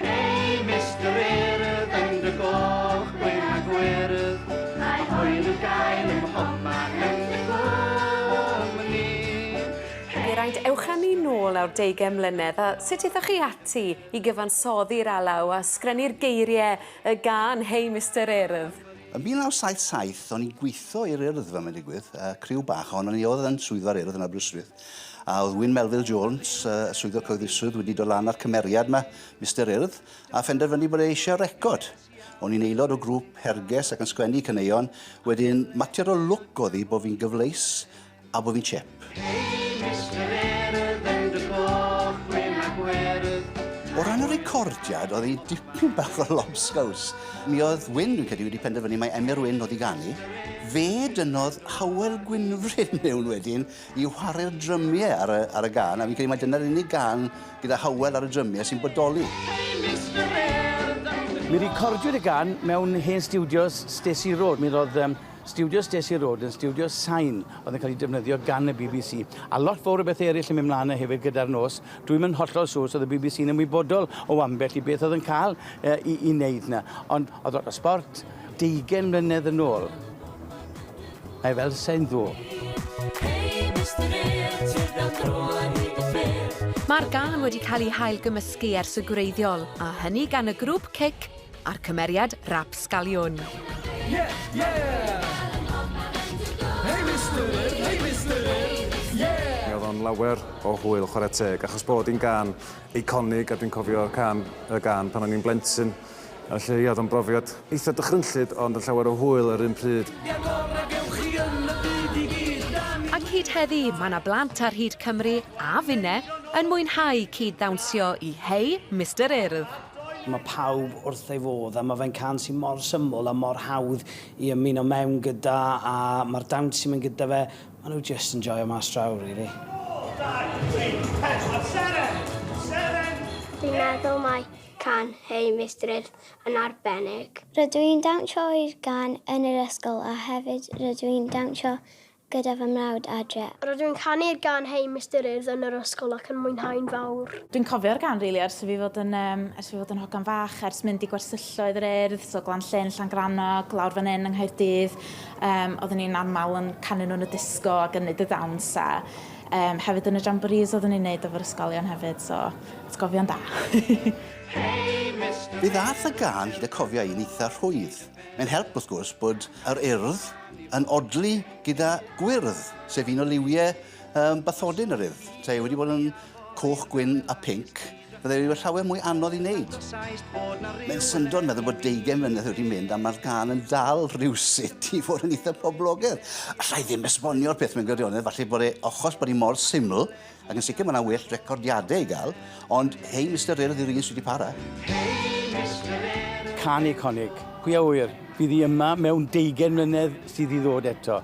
Hei, Mister Urdd, yn dy goch, gwyn a gwyrdd, mae hwyl i'w gael ym mhobman yn dy gwmni. Geraint, ewch â ni nôl nawr deugain mlynedd, a sut aethoch chi ati i gyfansoddi'r alaw a sgrennu'r geiriau y gân Hei, Mister Urdd? Yn 1977, o'n i'n gweithio i'r Urdd fel mae'n digwydd, yy criw bach ohonon ni oedd yn swyddfa'r Urdd yn Aberystwyth. A oedd Wyn Melville Jones, y swyddog cyhoeddusrwydd, wedi dod lan â'r cymeriad yma, Mister Urdd, a phenderfynu bod e eisiau record. O'n i'n aelod o grŵp herges ac yn sgwennu caneuon, wedyn mater o lwc oedd hi bod fi'n gyfleus a bod fi'n chep. O ran y recordiad, oedd hi'n dipyn bach o lobsgaws. Mi oedd Wyn, dwi'n credu, wedi penderfynu mai Emyr Wyn oedd i ganu. Fe dynnodd Howel Gwynfryn mewn wedyn, i whare'r drymie ar y, ar y gan, a fi'n credu mai dyna'r unig gan gyda Howell ar y drymie sy'n bodoli. Mi recordiwyd y gan mewn hen stiwdios Stacey Road. Mi roedd um, Studio Stacey Road yn studio sain oedd yn cael ei defnyddio gan y BBC. A lot fawr o bethau eraill yn mynd mlaen hefyd gyda'r nos. Dwi'n mynd hollol siŵr os oedd y BBC yn ymwybodol o ambell i beth oedd yn cael uh, i, i wneud yna. Ond oedd lot o sport, Deugain mlynedd yn ôl. Mae fel sain ddo. Mae'r gân wedi cael ei hailgymysgu ers y gwreiddiol, a hynny gan y grŵp Cic a'r cymeriad Rapscallion. Yeah, yeah! Hey Mister Ear, hey Mister Ear, yeah! Mi oedd o'n lawer o hwyl chwarae teg, achos bod hi'n gân eiconig a dwi'n cofio can, y gân pan o'n i'n blentyn. Felly, ia, oedd o'n brofiad eitha' dychrynllyd, ond yn llawer o hwyl yr un pryd. Ac hyd heddi, mae 'na blant ar hyd Cymru a finne yn mwynhau cyd-ddawnsio i Hey Mister Urdd. Mae pawb wrth ei fodd a mae fe'n can sy' mor syml a mor hawdd i ymuno mewn gyda a mae'r dawns sy'n mynd gyda fe, maen nhw jyst yn joio mas draw rili. Fi'n meddwl mai can Hey Mistress yn arbennig. Rydw i'n dawnsio i'r gan yn yr ysgol a hefyd rydw i'n dawnsio gyda fy mrawd adre. Rydw i'n canu'r gan Hey Mistress yn yr ysgol ac yn mwynhau'n fawr. Dwi'n cofio'r gan rili ers i fi fod yn yym ers i fi fod yn hogan fach, ers mynd i gwersylloedd yr Urdd, so Glan Llyn, Llangrannog, lawr fan hyn yng Nghaerdydd, yym oedden ni'n aml yn canu nhw yn y disco a gynnydd y ddawns a Yym hefyd yn y jamboris oeddwn ni'n neud efo'r ysgolion hefyd so atgofion da. Mi ddaeth y gân hyd y cofiau i'n eitha rhwydd. Mae'n help wrth gwrs bod yr urdd yn odli gyda gwyrdd, sef un o liwiau bathodyn yr urdd. Tae wedi bod yn coch, gwyn a pinc. Byddai wedi bod llawer mwy anodd i wneud. Mae'n syndod meddwl bod deugen mlynedd wedi mynd a mae'r gan yn dal rhywsut i fod yn eitha poblogedd. Alla i ddim esbonio'r peth mewn gwirionedd, falle bod e ochos bod hi mor syml, ac yn sicr mae yna well recordiadau i gael, ond hei Mister Rhyl ydy'r un sydd wedi para. Can eiconig, pwy a ŵyr, bydd hi yma mewn deugen mlynedd sydd i ddod eto.